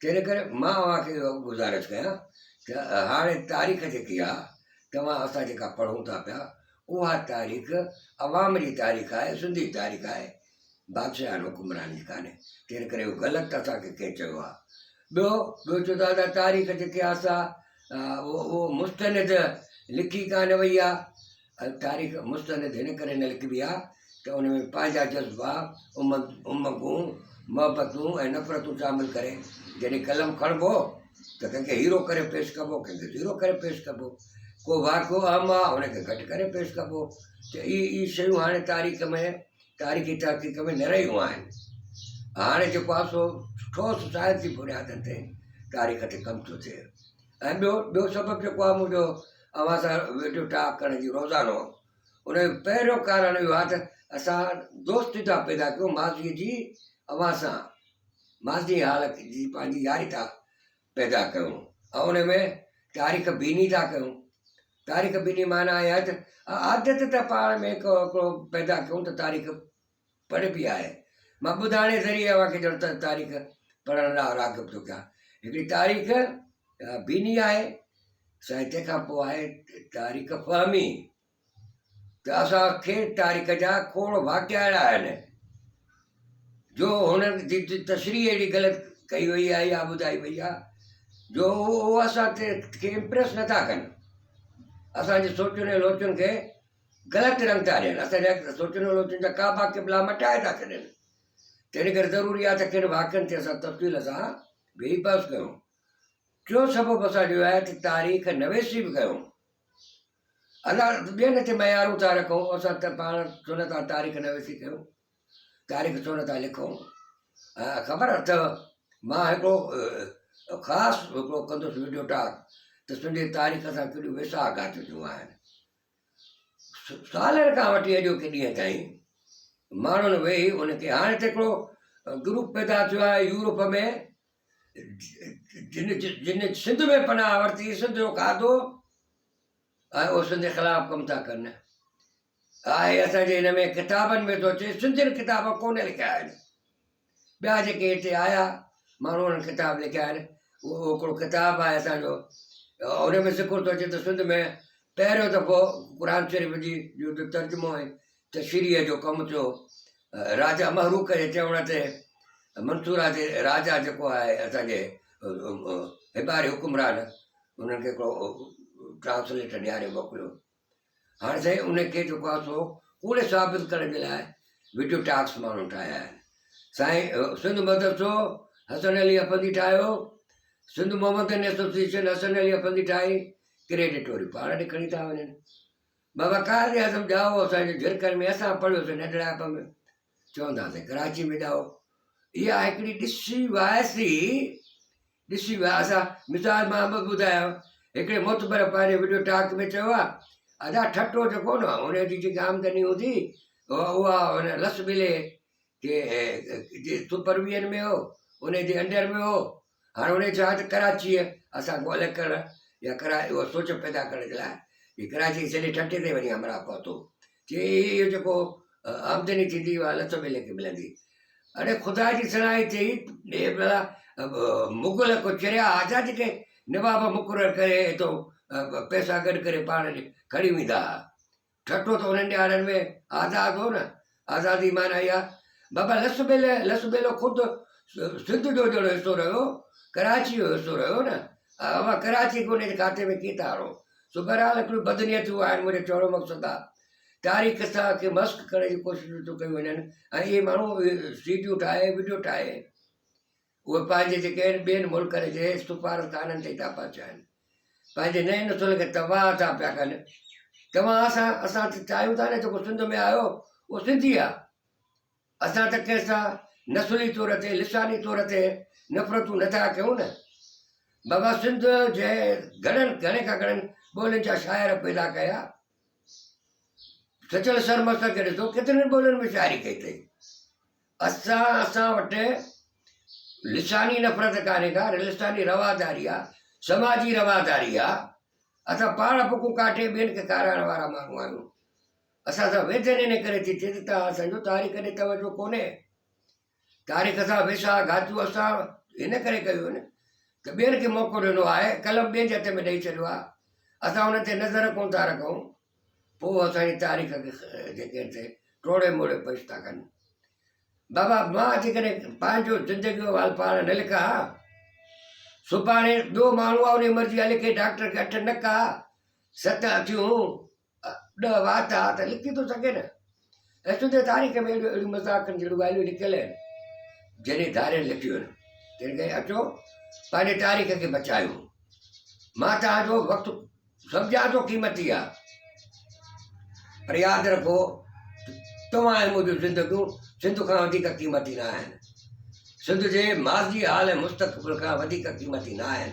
تنهن ڪري مان اوهان کي اهو گذارش ڪيان ته هاڻي تاريخ جيڪي آهي توهان اسان جيڪا پڙهون ٿا پيا اها تاريخ عوام جي تاريخ آهي سنڌي تاريخ آهي بادشاهن حڪمران جي ڪانهي تنهن ڪري اهو غلط اسان کي ڪنهن چيو آهي ٻيو ٻيو چو ٿا ته تاريخ جيڪي آسا اهو مستند لکي کانه وئي آهي تاريخ مستند هن ڪري نه لکبي آهي ته ان ۾ پنهنجا جذبا، امنگون، محبتون ۽ نفرتون شامل ڪري جڏهن قلم کڻبو ته ڪنهن کي هيرو ڪري پيش ڪبو ڪنهن کي زيرو ڪري پيش ڪبو. ڪو واقعو اهم آهي ان کي گهٽ ڪري پيش ڪبو ته اهي اهي شيون هاڻي تاريخ ۾ تاريخي تحقيق ۾ نه رهيون آهن. هاڻي جيڪو آهي سو ٺوس سائنسي بنيادن تي تاريخ تي ڪم ٿو ٿئي. ۽ ٻيو ٻيو سبب جيڪو آهي منهنجو اوهان سان ويڊيو ٽاڪ ڪرڻ جي روزانو ان جو پهريون ڪارڻ اهو آهي ته اسان دوستي ٿا پيدا ڪيون ماضي جي اوهان سان ماضي حال جي پنهنجي ياري ٿا پيدا ڪيون ۽ ان ۾ تاريخ بيني ٿا ڪيون تاريخ بيني معنيٰ اهي آهي ته عادت ته پاڻ ۾ ڪو ڪو پيدا ڪيون ته تاريخ پڙهبي آهي. مان ٻڌاڻي ذريعي اوهان کي ڄڻ ته تاريخ پڙهڻ لاء راغب ٿو ڪيان. هڪڙي تاريخ بيني آهي سائين تنهن کان پوء آهي تاريخ فهمي ته اسان کي تاريخ جا کوڙ واقعا اهڙا آهن جو هن جي تشريح اهڙي غلط ڪئي وئي آهي يا ٻڌائي وئي آهي جو اهو اسان کي امپريس نٿا ڪن اسانجي سوچن ۽ لوچن کي غلط رنگ ٿا ڏين، اسان جي سوچن ولوچن جا ڪعبا قبلا مٽائي ٿا ڇڏين، تنهن ڪري ضروري آهي ته ڪن واقعن تي اسان تفصيل سان ويهي بحث ڪيون. ٽيون سبب اسان جو اهو آهي ته تاريخ نويسي به ڪيون. الله ٻين تي معيارون ٿا رکون، اسان ته پاڻ سنتان تاريخ نويسي ڪيون، تاريخ سنتان لکون. خبر اٿئو مان هڪڙو خاص هڪڙو ڪندس وڊيو ٽاڪ ته سنڌي تاريخ سان ڪهڙيون ويساهه گهاٽجون آهن. سالن کان وٺي اڄوڪي ڏينهن تائين ماڻهن ويهي ان کي هاڻي ته هڪڙو گروپ پيدا ٿيو آهي يورپ ۾ جن جن سنڌ ۾ پناهه ورتي سنڌ جو کاڌو ۽ اهو سنڌ جي خلاف ڪم ٿا ڪن آهي اسانجي هن ۾ ڪتابن ۾ ٿو اچي سنڌين ڪتاب ڪونه لکيا آهن ٻيا جيڪي هتي آيا ماڻهو انهن ڪتاب لکيا آهن اهو هڪڙو ڪتاب آهي اسان جو ان ۾ ذڪر ٿو اچي ته سنڌ ۾ پهريون دفعو قرآن شريف جي جو ترجمو ۽ تشريح جو ڪم ٿيو راجا محروق جي چوڻ تي منصورا جي راجا جيڪو آهي اسان جي هباري حڪمران انهن کي هڪڙو ٽرانسليٽر ڏياري موڪليو هاڻ سائين ان کي جيڪو آهي سو ڪوڙي ثابت ڪرڻ جي لاء وڊيو ٽاڪس ماڻهو ٺاهيا آهن سائين سنڌ مدرسو حسن علي افندي ٺاهيو سنڌ محمدن ايسوسيشن حسن علي افندي ٺاهي ڪريڊٽ وري پاڻ ڏي کڻي ٿا وڃن بابا قائد اعظم ڄائو اسانجي جھرڪن ۾ اسان پڙهيوسين ننڍڙائپ ۾ چوندا سائين ڪراچي ۾ ڄائو اها هڪڙي ڏسي وائسي ڏسي ويا اسان مثال مان به ٻڌايان هڪڙي معتبر پنهنجي وڊيو ٽاڪ ۾ چيو آهي ادا ٺٽو جيڪو نه ان جي جيڪي آمدني هوندي اها ان لس ٻلي جي جي سپرويئن ۾ هو ان جي انڊر ۾ هو هاڻي ان چاهي ته ڪراچي اسان کي الڳ ڪرڻ يا ڪرا اهو سوچ پيدا ڪرڻ جي لاء ڪراچي سڄي ٺٽي تي وڃي همراهه پهتو چي هي اهو جيڪو آمدني ٿيندي اها الله سڀ ليکي ملندي اڙي خدا جي صلاحي ٿي ڏي ڀلا مغل کو چريا آزاد جيڪي نواب مقرر ڪري تو پيسا گڏ ڪري پاڻ کڻي ويندا هئا ٺٽو ته انهن ڏيارن ۾ آزاد هو نه آزادي معنی اها بابا لس بيل لس بيلو خود سنڌ جو جهڙو حصو رهيو ڪراچي جو حصو رهيو نه اوهان ڪراچي کي ان جي کاتي ۾ ڪيئن ٿا آڻو سو بهرحال هڪڙيون بدنيتيون آهن، منهنجو چوڻ جو مقصد آ تاريخ قصا کي مسخ ڪرڻ جون ڪوششون ٿيون ڪيون وڃن ۽ اهي ماڻهو اهي سي ڊيون ٺاهي وڊيو ٺاهي اهي پنهنجي جيڪي آهن ٻين ملڪن جي سفارتخانن تي ٿا پهچائن پنهنجي نئين نسل کي تباهه ٿا پيا ڪن توهان اسان اسان چاهيون ٿا نه جيڪو سنڌ ۾ آيو اهو سنڌي آ اسان ته ڪنهن سان نسلي طور تي، لساني طور تي نفرتون نه ٿا ڪيون نه. بابا سنڌ جنهن گهڻن گهڻي کان گهڻن ٻولين جا شاعر پيدا ڪيا. سچل سرمستر کي ڏسو ڪيترين ٻولين ۾ شاعري ڪئي اٿئي. اسان اسان وٽ لساني نفرت ڪانهي ڪا، لساني رواداري آ، سماجي رواداري آ. اسان پاڻ ڦڪون ڪاٽي ٻين کي کارائڻ وارا ماڻهو آهيون. اسان سان ويجهن ان ڪري ٿي ٿئي ته توهان اسان جو تاريخ ڏي توجهه ڪونهي تاريخ سان ويساهه گهاتيون اسان ان ڪري ڪيون آهن ته ٻين کي موقعو ڏنو آهي قلم ٻين جي هٿ ۾ ڏئي ڇڏيو آهي اسان ان تي نظر ڪون ٿا رکون پوء اسان جي تاريخ کي جيڪي آهن سي ٽوڙي موڙي پيش ٿا ڪن بابا مان جيڪڏهن پنهنجو زندگي جو حال پاڻ نه لکان ها سڀاڻي ٻيو ماڻهو آهي ان جي مرضي آهي لکي ڊاڪٽر کي اٺ نڪا ست اکيون ڏهه وات آ ته لکي ٿو سگهي نه؟ ايشوندي تاريخ ۾ اهڙيون اهڙيون مذاقن جهڙيون ڳالهيون لکيل آهن، جنهن ڌارين لکيون آهن. تنهن ڪري اچو پنهنجي تاريخ کي بچايون. مان توهان جو وقت سمجهان ٿو قيمتي آ. پر ياد رکو توهان ۽ منهنجون زندگيون سنڌ کان وڌيڪ قيمتي نه آهن. سنڌ جي ماضي حال ۽ مستقبل کان وڌيڪ قيمتي نه آهن.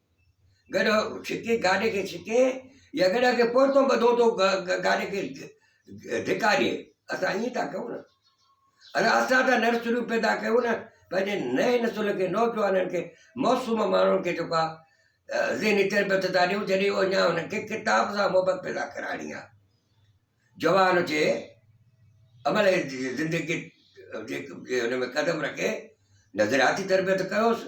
گڏهه ڇڪي گاڏي کي ڇڪي يا گڏهه کي پورتو ٻڌو تو گاڏي کي ڌڪاري اسان ائين ٿا ڪيون نه انا اسان ته نرسريون پيدا ڪيون نه پنهنجي نئين نسل کي نوجوانن کي موسوم ماڻهن کي جيڪو آه ذهني تربيت ٿا ڏيون جڏهن اهو اڃا هن کي ڪتاب سان محبت پيدا ڪرائڻي آه جوان هجي عمل زندگي جي هن ۾ قدم رکي نظرياتي تربيت ڪيوس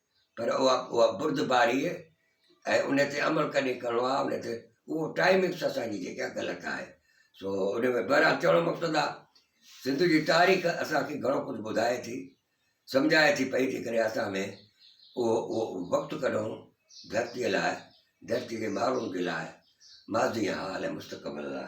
پر اها اها بردباري ۽ ان تي عمل ڪڏهن ڪرڻو آهي ان تي اهو ٽائمنگس اسان جي جيڪا غلط آهي سو ان ۾ بهرحال چوڻ جو مقصد آهي سنڌ جي تاريخ اسانکي گهڻو ڪجهه ٻڌائي ٿي سمجهائي ٿي پئي جيڪڏهن اسان ۾ اهو اهو وقت ڪڍون ڌرتيء لاء ڌرتي جي ماڻهن جي لاء ماضي حال ۽ مستقبل لاء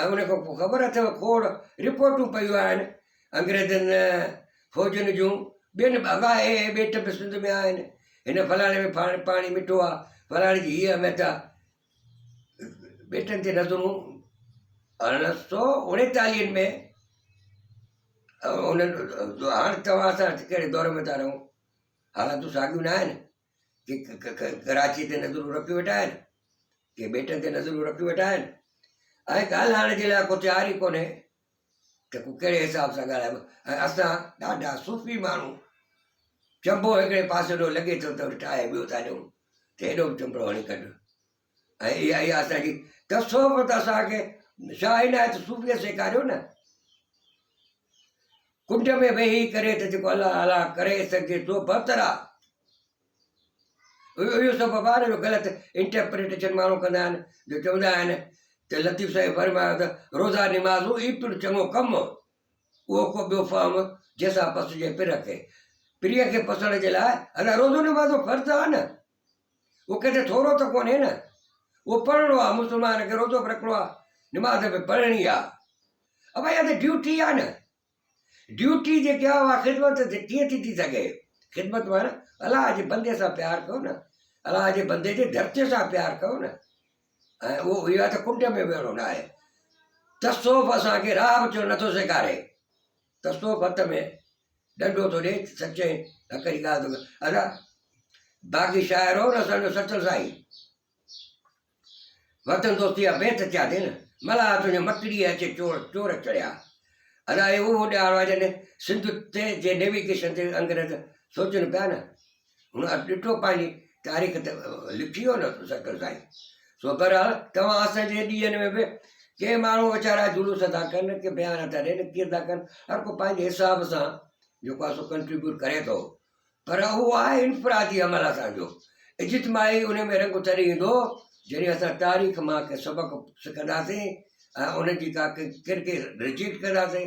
۽ ان کان پوء خبر اٿيو کوڙ رپورٽون پيون آهن انگريزن فوجن جون ٻين به الاهي اهي ٻيٽ به سنڌ ۾ آهن هن فلاڻي ۾ پاڻي پاڻي مٺو آ فلاڻي جي هيء اهميت آ ٻيٽن تي نظرون ارڙهن سو اڻيتاليهن ۾ هاڻ توهان سان ڪهڙي دور ۾ ٿا رهون حالتون ساڳيون ناهن ڪي ڪراچيء تي نظرون رکيون ويٺا آهن، ڪي ٻيٽن تي نظرون رکيون ويٺا آهن ۽ ڳالهائڻ جي لاء ڪو تيار ئي ڪونهي ته ڪو ڪهڙي حساب سان ڳالهائبو ۽ اسان ڏاڍا صوفي ماڻهو چنبو هڪڙي پاسي ڏو لڳي ٿو ته ٺاهي ٻيو ٿا ڏيون ته هيڏو به چنبڙو هڻي ڪڍ ۽ اها ئي آسه آهي ته تصوف ته اسان کي شاهه عنايت صوفيء سيکاريو نه. ڪنڊ ۾ ويهي ڪري ته جيڪو الله الله ڪري سگهجي سو بهتر آهي. اهو سبب آهي نه جو غلط انٽرپريٽيشن ماڻهو ڪندا آهن جو چوندا آهن ته لطيف سائين فرمايو ته روزا نمازون ئي پڻ چڱو ڪم اهو ڪو ٻيو فهم جنهن سان پسجي پرهه کي پريء کي پسڻ جي لاء ادا روزو نمازون فرض آهن نه اهو ڪٿي ٿورو ته ڪونهي نه، اهو پڙهڻو آ، مسلمان کي روزو به رکڻو آ، نماز به پڙهڻي آ. ابا اها ته ڊيوٽي آ نه، ڊيوٽي جيڪي آ اها خدمت ڪيئن ٿي ٿي سگهي، خدمت معنيٰ الله جي بندي سان پيار ڪيو نه، الله جي بندي جي ڌرتيء سان پيار ڪيو نه، ۽ اهو اها ته ڪنڊ ۾ ويهڻو ناهي، تصوف اسان کي راهه به چئڻ نٿو سيکاري. تسو ڀت ۾ ڏنڊو ٿو ڏي سچي حق جي ڳالهه ٿو ڪري ادا باقي شاعر هو رسل جو سچل سائين وطن دوستي جا بيت ٿيا ٿي نه ملا تنهنجي مٽڙي اچي چور چور چڙيا ادا اهو ڏيار آ جڏهن سنڌ تي جي نيويگيشن تي انگريز سوچن پيا نه هن اٿ ڏٺو پنهنجي تاريخ ته لکي ويو نه سکر سائين سو برحال توهان اسان جي ڏينهن ۾ به ڪي ماڻهو ويچارا جلوس ٿا ڪن ڪي بيان ٿا ڏين ڪيئن ٿا ڪن هر کو پنهنجي حساب سان جيڪو آسو ڪنٽريبيوٽ ڪري ٿو پر اهو آهي انفرادي عمل اسان جو اجتماعي ان ۾ رنگ تڏهن ايندو جڏهن اسان تاريخ مان ڪي سبق سکنداسين ۽ ان جي ڪا ڪرڪي رجيڪٽ ڪنداسين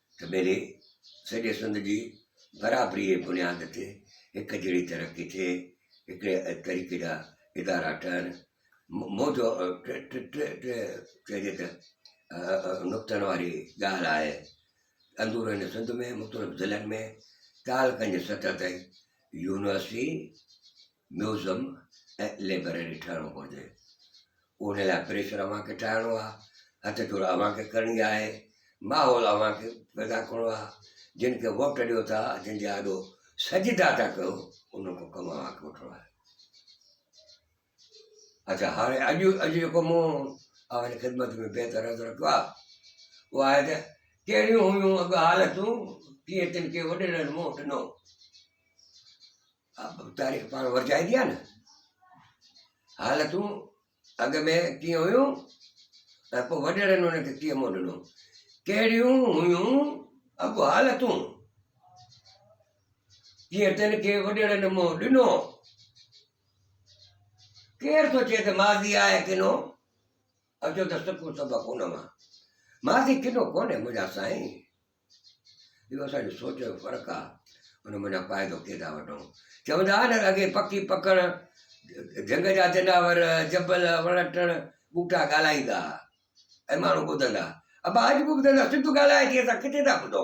سڀيري سڄي سنڌ جي برابري جي بنياد تي هڪ جهڙي ترقي ٿئي، هڪڙي طريقي جا ادارا ٺهن، موجو چئجي ته نقطن واري ڳالهه آهي، اندورن سنڌ ۾ مختلف ضلعن ۾ تعلقن جي سطح تائين يونيورسٽي ميوزم ۽ لئبرري ٺهڻو پوندي ان لاء پريشر اوهان کي ٺاهڻو آهي هٿ جوڙ اوهان کي ڪرڻي آهي ماحول اوهان کي پيدا ڪرڻو آهي جن کي ووٽ ڏيو ٿا جن جي آڏو سجدا ٿا ڪيو ان کي ڪم اوهان کي وٺڻو آهي اچھا هاڻي اڄ اڄ جيڪو مون اوهان جي خدمت ۾ بهتر عرض رکيو آهي اهو آهي ته ڪهڙيون هيون اڳ حالتون ڪيئن تن کي وڏيرن منهن ڏنو تاريخ پاڻ ورجائي ٿي آ نه حالتون اڳ ۾ ڪيئن هيون ۽ پوء وڏيرن ان کي ڪيئن منهن ڏنو ڪهڙيون هيون اڳو حالتون جيئن تن کي وڏيرن منهن ڏنو ڪير سوچي ته ماضي آهي ڪنو اچو ته سکون سبق ان مان ماضي ڪنو ڪونهي منهنجا سائين اهو اسان جي سوچ جو فرق آ ان منجهان فائدو ڪي ٿا وٺون چوندا هئا نه اڳي پکي پکڻ جهنگ جا جناور جبل وڻ ٽڻ ٻوٽا ڳالهائيندا هئا ۽ ماڻهو ٻڌندا ابا اڄ به ٻڌندا سنڌ ڳالهائي ٿي اسان ڪٿي ٿا ٻڌو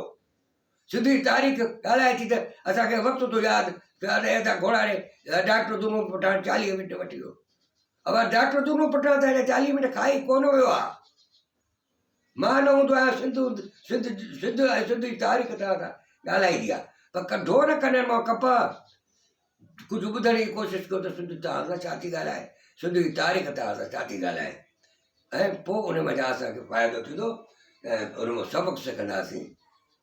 سنڌي تاريخ ڳالهائي ٿي ته اسانکي وقت ٿو ياد ته گهوڙاڙي ڊاڪٽر دونو پٺاڻ چاليهه منٽ وٺي ويو ابا ڊاڪٽر دونو پٺاڻ ته چاليهه منٽ کائي ڪونه ويو آ مان نه هوندو آهيان سنڌو سنڌ سنڌ ۽ سنڌ جي تاريخ توهان کان ڳالهائي ڏيا پر ڪڍو نه ڪنن مان ڪپهه ڪجهه ٻڌڻ جي ڪوشش ڪيو ته سنڌ توهان سان ڇا ٿي ڳالهائي سنڌ جي تاريخ توهان سان ڇا ٿي ڳالهائي ۽ پوء ان مان جا اسان کي فائدو ٿيندو ۽ ان مان سبق سکنداسين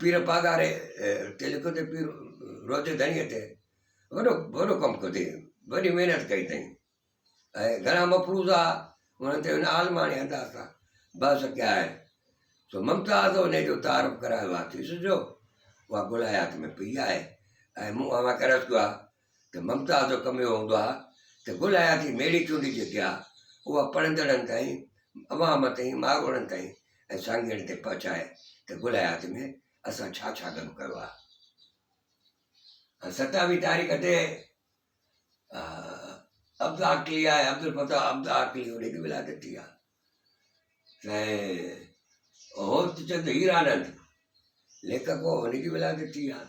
پير پاڳاري تي لکيو تي پير روضي ڌڻيء تي وڏو وڏو ڪم ڪيو تي وڏي محنت ڪئي تئي ۽ گھڻا مفروضا انهن تي ان عالماڻي انداز سان بحث ڪيا آهن سو ممتاز انهي جو تعارف ڪرايو آهي ٿي سجھو اها گل حيات ۾ پيئي آهي ۽ مون اوهان کي عرض ڪيو آهي ته ممتاز جو ڪم اهو هوندو آهي ته گل حياتي ميڙي چونڊي جيڪي آهي اها پڙهندڙن تائين، عوام تائين، ماڳوڙن تائين ۽ سانگيئڙن تائين پهچائي ته گل حياتي ۾ اسان ڇا ڇا گڏ ڪيو آهي. ستاويهه تاريخ تي عبدالعاقلي آهي، عبدالفتاح عبدالعاقلي هن جي ولادت ٿي آهي. سائين هوت چند هيرانند ليکڪ هو هن جي ولادت ٿي آهي.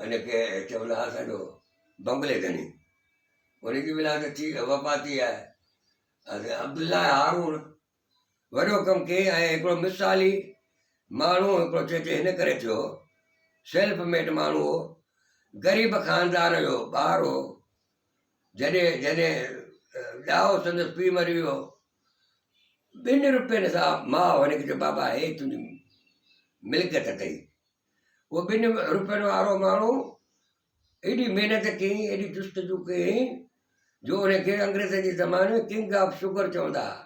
ان کي چوندا ھا سندو بنگلي ڌڻي ان جي ولادت ٿي وفات ٿي آھي حضرت عبدالله هارون وڏو ڪم ڪي ۽ هڪڙو مثالي ماڻهو هڪڙو چيچي هن ڪري ٿيو سيلف ميڊ ماڻهو هو غريب خاندان جو ٻار هو جڏهن جڏهن ڏاهو سندس پيء مري ويو هو، ٻن روپين سان ماء هن کي چيو بابا هي تنهنجي ملڪيت اٿئي. اهو ٻن روپين وارو ماڻهو ايڏي محنت ڪيائين ايڏي جستجو ڪيائين جو ان کي انگريزن جي زماني ۾ ڪنگ آف شوگر چوندا هئا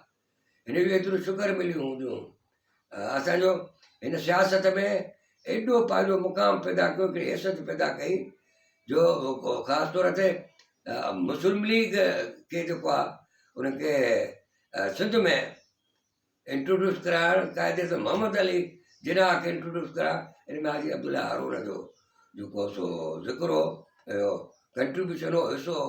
هن جو ايترو شڪر مليون هونديون. اسان جو هن سياست ۾ ايڏو پنهنجو مقام پيدا ڪيو هڪڙي حيثيت پيدا ڪئي جو خاص طور تي مسلم ليگ کي جيڪو آ ان کي سنڌ ۾ انٽروڊيوس ڪرائڻ قائد اعظم محمد علي جناح کي انٽروڊيوس ڪرائڻ ان ۾ حاجي عبدالله هارون جو جيڪو سو ذڪر هو ڪنٽريبيوشن هو حصو هو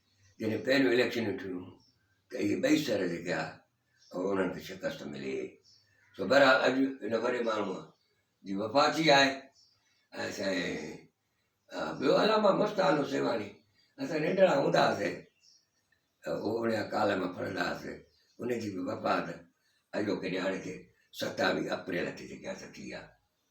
جڏهن پهريون اليڪشنون ٿيون ته اهي ٻئي سر جيڪي آ اهو انهن کي شڪست ملي سو بهرحال اڄ ان وڏي ماڻهوء جي وفا ٿي آهي ۽ سائين ٻيو علامه مستان حسيواڻي اسان ننڍڙا هوندا هئاسين اوڙيا ڪالم پڙهندا هئاسين ان جي بي وفات اڄوڪي ڄاڻ کي ستاويهه اپريل تي جيڪي آ سا ٿي آ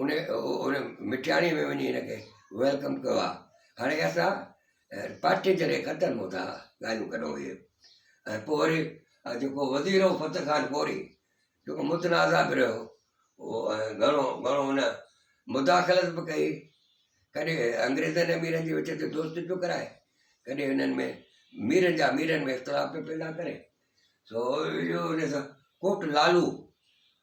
ان مٺياڻي ۾ وڃي هن کي ويلڪم ڪيو آ هاڻي اسان پارٽي جڏهن ختم هو ٿا ڳالهيون ڪندا هئي ۽ پوء وري جيڪو وزير هو فتح خان ڪوري جيڪو متنازع به رهيو هو ۽ گهڻو گهڻو هن مداخلت به ڪئي ڪڏهن انگريزن ۽ ميرن جي وچ تي دوستي پيو ڪرائي ڪڏهن هنن ۾ ميرن جا ميرن ۾ اختلاف پيو پيدا ڪري سو اهو ان سان ڪوٽ لالو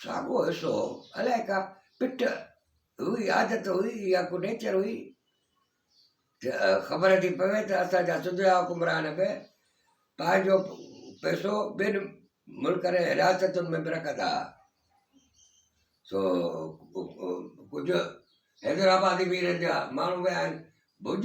ساڳو حصو هو. الائي ڪا پٺ هئي، عادت هئي يا ڪو نيچر هئي ته خبر ٿي پوي ته اسان جا سڌرا حڪمران به پنهنجو پئسو ٻين ملڪن ۽ رياستن ۾ به رکندا ها. سو ڪجهه حيدرآبادي ميرن جا ماڻهو ويا آهن ڀڄ.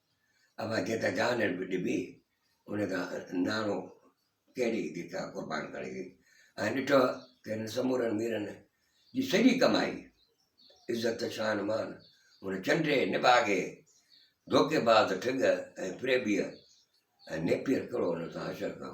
اڀا جيڪا جان به ڏبي ان کان ناڻو ڪهڙي ديکاء قربان ڪري وئي ۽ ڏٺو ته هن سمورن ميرن جي سڄي ڪمائي عزت شان مان هن چنڊي نڀاڳي ڌوڪي باز ٺڳ ۽ فريبيء ۽ نيپير ڪرو هن سان حشر ڪيو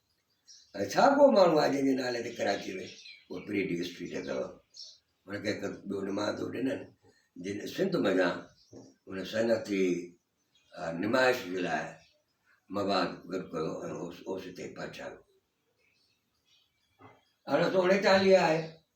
۽ ڇا ڪو ماڻهو آهي جنهن جي نالي تي ڪراچيء ۾ اها پريڊ اسٽريٽ اٿو؟ هن کي هڪ ٻيو نمان ٿو ڏنن جن سنڌ منجهان ان صنعتي نمائش جي لاء مواد گڏ ڪيو ۽ اوس اوس تي پهچايو ارڙهن سو اڻيتاليهه آهي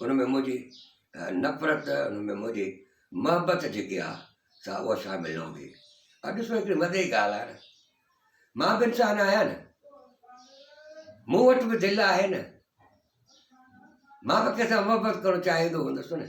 ان ۾ منهنجي نفرت، ان ۾ منهنجي محبت جيڪي آ سا اها شامل نه هوندي. ها ڏسو هڪڙي مزي جي ڳالهه آهي نه. مان به انسان آهيان نه. مون وٽ به دل آهي نه. مان به ڪنهن سان محبت ڪرڻ چاهيندو هوندس نه.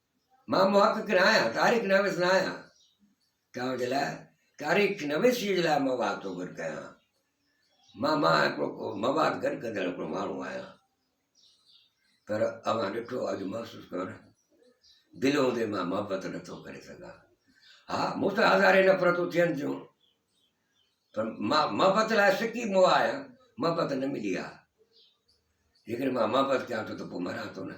مان محقق نه آهيان، تاريخ نويس نه آهيان، توهان جي لاء تاريخ نويسيء جي لاء مواد ٿو گڏ ڪيان. مان مان هڪڙو مواد گڏ ڪندڙ هڪڙو ماڻهو آهيان. پر اوهان ڏٺو اڄ محسوس ڪيو نه، دل هوندي مان محبت نه ٿو ڪري سگهان. ها مون سان هزارين نفرتون ٿين ٿيون، پر مان محبت لاء سڪي مو آهيان، محبت نه ملي آ. جيڪڏهن مان محبت ڪيان ٿو ته پوء مران ٿو نه.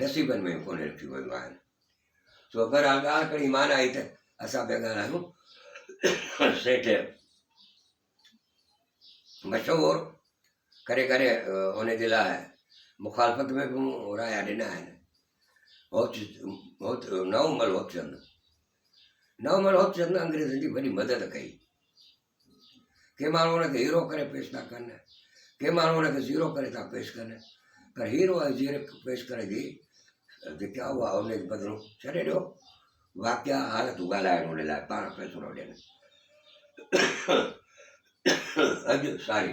نصيبن ۾ به ڪونهي رکيون ويون آهن. سو بهرحال ڳالهه ڪري مان آئي ته اسان پيا ڳالهايون سيٺ مشهور ڪري ڪري ان جي لاء مخالفت ۾ به مون رايا ڏنا آهن نومل هوتچند نومل هوتچند انگريزن جي وڏي مدد ڪئي ڪي ماڻهو ان کي هيرو ڪري پيش ٿا ڪن ڪي ماڻهو ان کي زيرو ڪري ٿا پيش ڪن پر هيرو ۽ زيرو پيش ڪري جي جيڪا اها ان جي بدلو ڇڏي ڏيو واقعا حالتون ڳالهائڻ ان لاء پاڻ فيصلو ڏين اڄ ساري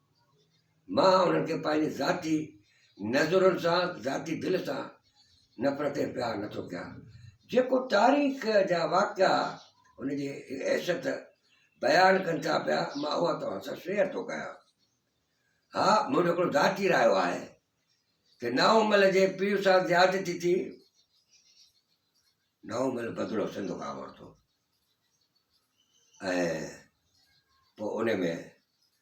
مان انهن کي پنهنجي ذاتي نظرن سان، ذاتي دل سان نفرت ۽ پيار نه ٿو ڪيان. جيڪو تاريخ جا واقعا ان جي حيثيت بيان ڪن ٿا پيا، مان اها توهان سان شيئر ٿو ڪيان. ها، منهنجو هڪڙو ذاتي رايو آهي ته نائونمل جي پيء سان زيادتي ٿي، نائونمل بدلو سنڌ کان ورتو ۽ پوء ان ۾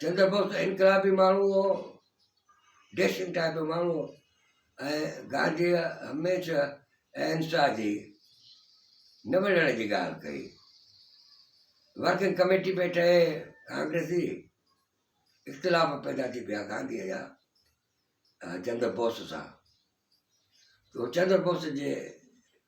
چندر بوس ته انقلابي ماڻهو هو، ڊيسنٽ ٽائيپ جو ماڻهو هو ۽ گانڌيء هميشه اهنسا جي نه وڙهڻ جي ڳالهه ڪئي. ورڪنگ ڪميٽي پئي ٺهي ڪانگريسي، اختلاف پيدا ٿي پيا گانڌيء جا چندر بوس سان. چندر بوس جي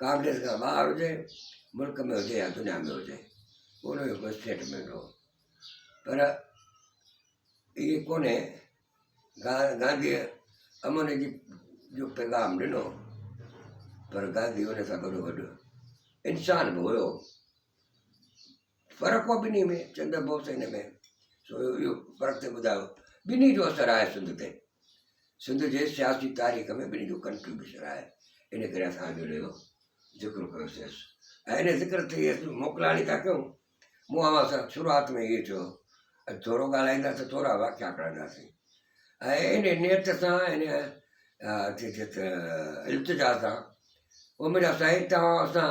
ڪانگريس کان ٻاهر هجي، ملڪ ۾ هجي يا دنيا ۾ هجي، ان جو ڪو اسٽيٽمينٽ هو. پر اهي ڪونهي. گانڌيء امن جي جو پيغام ڏنو، پر گانڌي ان سان گڏوگڏ انسان به هيو. فرق هو ٻنهي ۾ چندر بوس ۽ هن ۾ سو اهو فرق ٿي ٻڌايو ٻنهي جو اثر آهي سنڌ تي سنڌ جي سياسي تاريخ ۾ ٻنهي جو ڪنٽريبيوشن آهي ان ڪري اسان اڄ ان جو ذڪر ڪيوسي ۽ ان ذڪر تي اسان موڪلاڻي ٿا ڪيون مون اوهان سان شروعات ۾ اهي چيو اڄ ٿورو ڳالهائينداسي ٿورا واقعا کڻنداسي ۽ ان نيت سان ان التجا سان اميد آ سائين توهان اسان